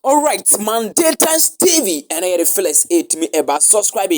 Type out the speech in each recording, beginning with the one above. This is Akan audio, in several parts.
Alright, Mandatus TV ɛna yɛde Felix ɛtumi ɛba subscribe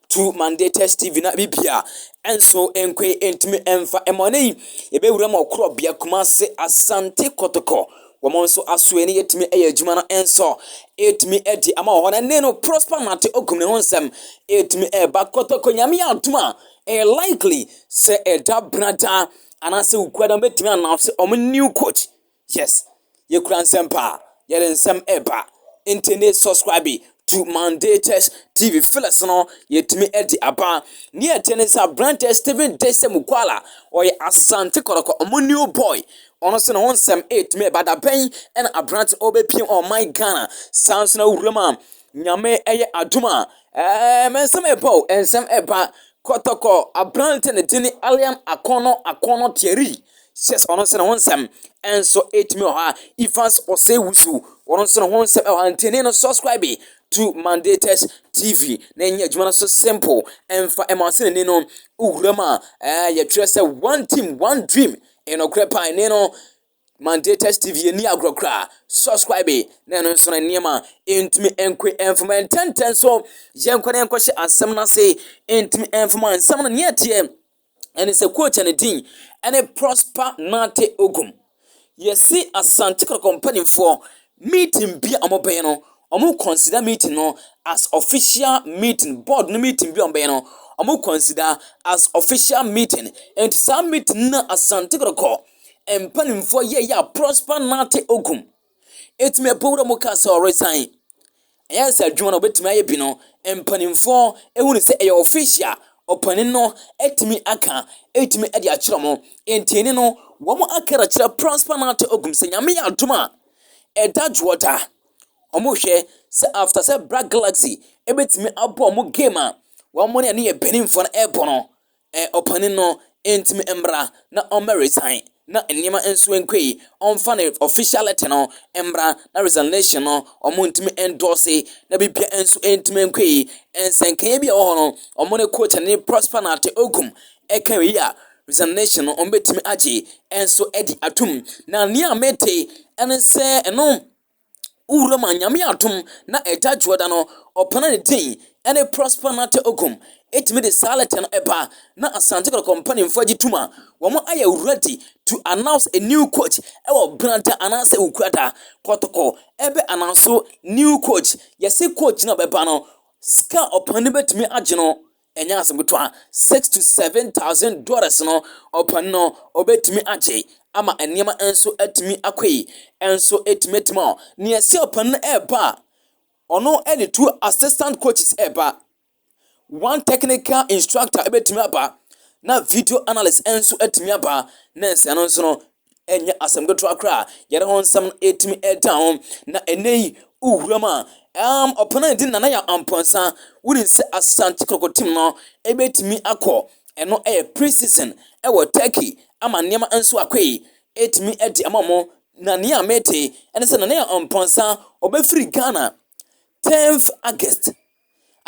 to Mandatus TV na bibi a ɛnso ɛnkɔ ɛntumi ɛnfa ɛmɔ ne yi ɛbɛwura mu ɔkorɔ bea Kumasi Asante Kɔtɔkɔ wɔn nso aso ɛne yɛtumi ɛyɛ adwuma no ɛnso ɛtumi ɛdi ama wɔ hɔ na ne no Prosper Nate Ogum ne ho nsɛm ɛtumi ɛba Kɔtɔkɔ nyame adum a ɛyɛ likely sɛ ɛda brada anaasɛ okuada bɛtumi anaase wɔn new coach Yes yɛkura nsɛm paa yɛde nsɛm ɛba ntɛnee subscribe to mandatus tv fellas no yɛtumi ɛde aba ne ɛteɛ ne sɛ aberanteɛ steven dese mukwala ɔyɛ asante kɔrɔkɔ ɔmo new boy ɔno sɛ ne ho nsɛm ɛtumi ɛba da bɛn ɛna aberante ɔbɛpiem ɔman ghana saa nso na wuram a nyame ɛyɛ adom a ɛɛ mɛ nsɛm ɛba o nsɛm ɛba kɔtɔkɔ aberante ne dini alian akɔnɔ akɔnɔ tiɛri Sies ɔno nso ne ho nsɛm nso ɛtumi wɔ ha. Evans Osei Wusu ɔno nso ne ho nsɛm ɛwɔ ha. Ntini no subscribe to Mandatus TV na ɛnyɛ adwuma no so simple ɛmfa ɛma ɔsɛ n'ani no wura mu a ɛɛ yɛtwerɛ sɛ one team one dream ɛnɔkorɛ paa ɛne no Mandatus TV yɛni agorɔ koraa subscribe na ɛno nso no nneɛma ɛntumi ɛnkɔ ɛmfama ɛntɛntɛn so yɛnkɔ na yɛnkɔhyɛ asɛm no ase ɛntumi ɛmfama nsɛm no neɛ teɛ ɛne sɛ quote ne din ne Prosper Nartey Ogum. Yɛse Asante Kotoko mpanimfoɔ meeting bi a wɔbɛyɛ no, wɔn consider meeting no as official meeting, board no meeting bi a wɔbɛyɛ no, wɔn consider as official meeting. Nti saa meeting no na Asante Kotoko mpanimfoɔ yɛɛyɛ a Prosper Nartey Ogum. Etumi ɛpo wura mu ka sɛ ɔresan. Ɛyɛ sɛ adwuma no obetumi ayɛ bi no, mpanimfoɔ ehu no sɛ ɛyɛ ɔfiisi a ɔpanin no atumi aka, atumi de akyerɛ wɔn. Enti ɛni no, wɔn aka de akyerɛ Prosper Nartey Ogum sɛ Nyame yɛ adom a, ɛda dwoɔ da. Wɔn rehwɛ sɛ after sɛ Black Galaxy ebetumi abɔ wɔn game a wɔn ne ɛne yɛ beninfoɔ no ɛrebɔ no, Ɛ, ɔpanin no ntumi mmra na ɔmmɛ resign na nneɛma nso nkɔ yi, ɔmfa ne official letter no mmra na resignation no wɔn ntumi endorse na biribiara nso ntumi nkɔ yi. Nsɛnkaeɛ bi a ɛwɔ hɔ no, wɔn ne coach ne Prosper Nartey Ogum ɛka wei a, resignation no wɔn bɛtumi agye nso adi atom. Na nea mete ɛne sɛ ɛno. Wo wura ma Nyame adom na Agya Dwoda no ɔpɛna ne din ɛne Prosper Nartey Ogum ɛtumi de saa lɛtɛ no ɛba na Asante Kɔtɔkɔ mpaninfoɔ agye tum a wɔn ayɛ ready to announce a new coach ɛwɔ Benada anaasɛ Wukuada Kɔtɔkɔ ɛbɛ announce new coach yɛse coach no a ɔbɛba no sika ɔpɛna no bɛtumi agye no Ɛnyɛ asɛm ketewa, six to seven thousand dollars no ɔpɔn no obetumi agye ama nneɛma nso atumi akɔ yi nso etumi atumi a nea ɛsɛ ɔpɔn no ɛreba a ɔno ɛde two assistant coaches ɛreba one technical instructor ebetumi aba na video analyst nso atumi aba na nsɛn no nso no ɛnyɛ asɛm ketewa koraa a yɛde ho nsɛm no ɛtumi ɛda ho na ɛnɛ yi wowura mu a ɛm ɔpɛn a ɛdi nana yɛ ampɔnsa wonim sɛ asante kɔkɔ tim no ɛbɛtumi akɔ ɛno ɛyɛ pre-season ɛwɔ turkey ama nneɛma nso akɔ yi ɛtumi ɛde ama mo na nea mete ɛne sɛ nana yɛ ampɔnsa ɔbɛfiri ghana 10th august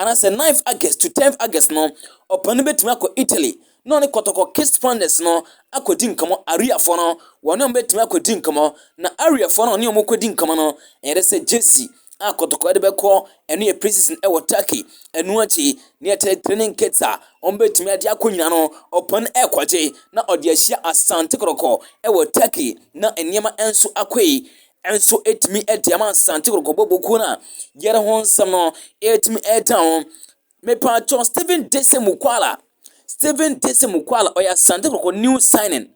anaasɛ ninth August to tenth August no, ɔpɛ no betumi akɔ Italy na ɔne kɔtɔkɔ Kist Flanders no akɔdi nkɔmmɔ. Ariafoɔ no, wɔne wɔn betumi akɔdi nkɔmmɔ, na Ariafoɔ no a ɔne wɔn kɔdi nkɔmmɔ no, ɛyɛ dɛ sɛ gyesi a kɔtɔkɔ de bɛkɔ, ɛno yɛ pre-season wɔ Turkey, ɛno akyi, nea ɛkyerɛ training kits a wɔbetumi de akɔ nyinaa no, ɔpɛ no rekɔgye na ɔde ahyia Asante Kɔtɔkɔ wɔ Turkey, na nneɛma nso akɔ yi. nso tumi de ama Asante Kɔkɔbɔ bokuo no a yɛre ho nsɛm no ɛtumi ɛda ho mepatwɔ Stephen Dese Mukwala Stephen Dese Mukwala ɔyɛ Asante Kɔkɔ new signing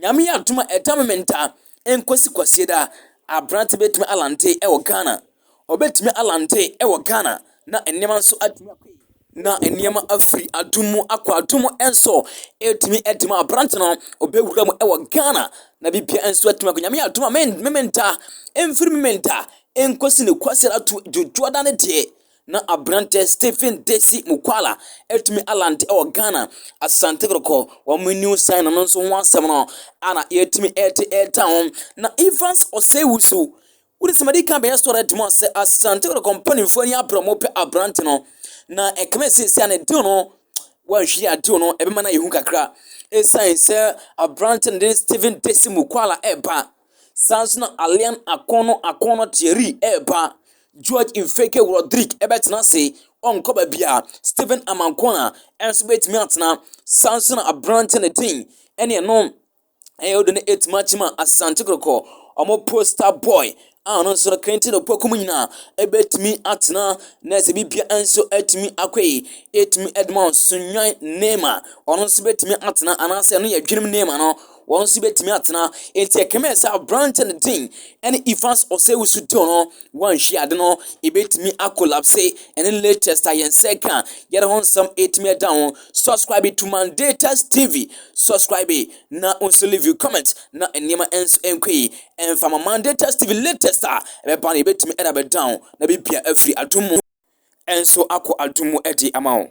nyame yɛ adom a ɛda me menta nkosi kwasieda aberante bɛtumi alante ɛwɔ Ghana Ɔbɛtumi alante wɔ Ghana na nneɛma nso atumi akɔ yie. Na nneɛma afiri adum mu akɔ adum mu nso. Ɛtumi de ma aberante no, ɔbɛwura mu wɔ Ghana na biribiara nso atumi akɔ. Nyame yɛ adom a, Memenda, ɛmfiri Memenda nkɔsi ne Kwasida ato Dwoodwooda no deɛ, na aberante Stephen Desi Mukwala atumi alante wɔ Ghana, Asante Kɔtɔkɔ, wɔn New Sign no nso ho asɛm no a na yɛtumi de reta ho. Na Evans Osei-Wusu, Wode sɛ madi kan bɛyɛ story demo a sɛ Asante Kotoko mpanimfoɔ ani abere wɔn pɛ aberante no na ɛkame sɛ seesei a ne deal no wɔanhwɛ a deal no ɛbɛma no ayɛ hu kakra ɛsiane sɛ aberante no de Stephen Desi Mukwala ɛreba saa nso na Alian Akono Akono Thierry ɛreba George Mfeke Rodrigue ɛbɛtena ase ɔnkɔ baabi a Stephen Amankona ɛnso bɛtumi atena saa nso na aberante no din ɛne ɛno ɛyɛ wo de no ɛtumi akyima asante kɔkɔɔ ɔmo posta boy a ɔno nso no kente na ɔpɔku mu nyinaa ɛbɛtumi atena na ɛsɛ bibia nso ɛtumi akɔ yi ɛtumi ɛdema ɔsonwan nema ɔno nso bɛtumi atena anaasɛ ɛno yɛ dwenem nema no wɔn nso bɛtumi atena ɛti ɛkɛmɛ sɛ aberantɛ no din ɛne Evans Osei-Usu Dil no wanhwie ade no, ebetumi akolapse. Ɛne latest ayɛnsɛ ka a yɛde ho nsɛm retumi da ho. Subscribe to Mandatus TV. Subscribe na wo nso leave you comment na nneɛma nso nkɔ yi. Ɛmfa ma Mandatus TV latest a ɛbɛba no ebetumi ɛde abɛda ho na bibia afiri adum mu nso akɔ adum mu de ama wo.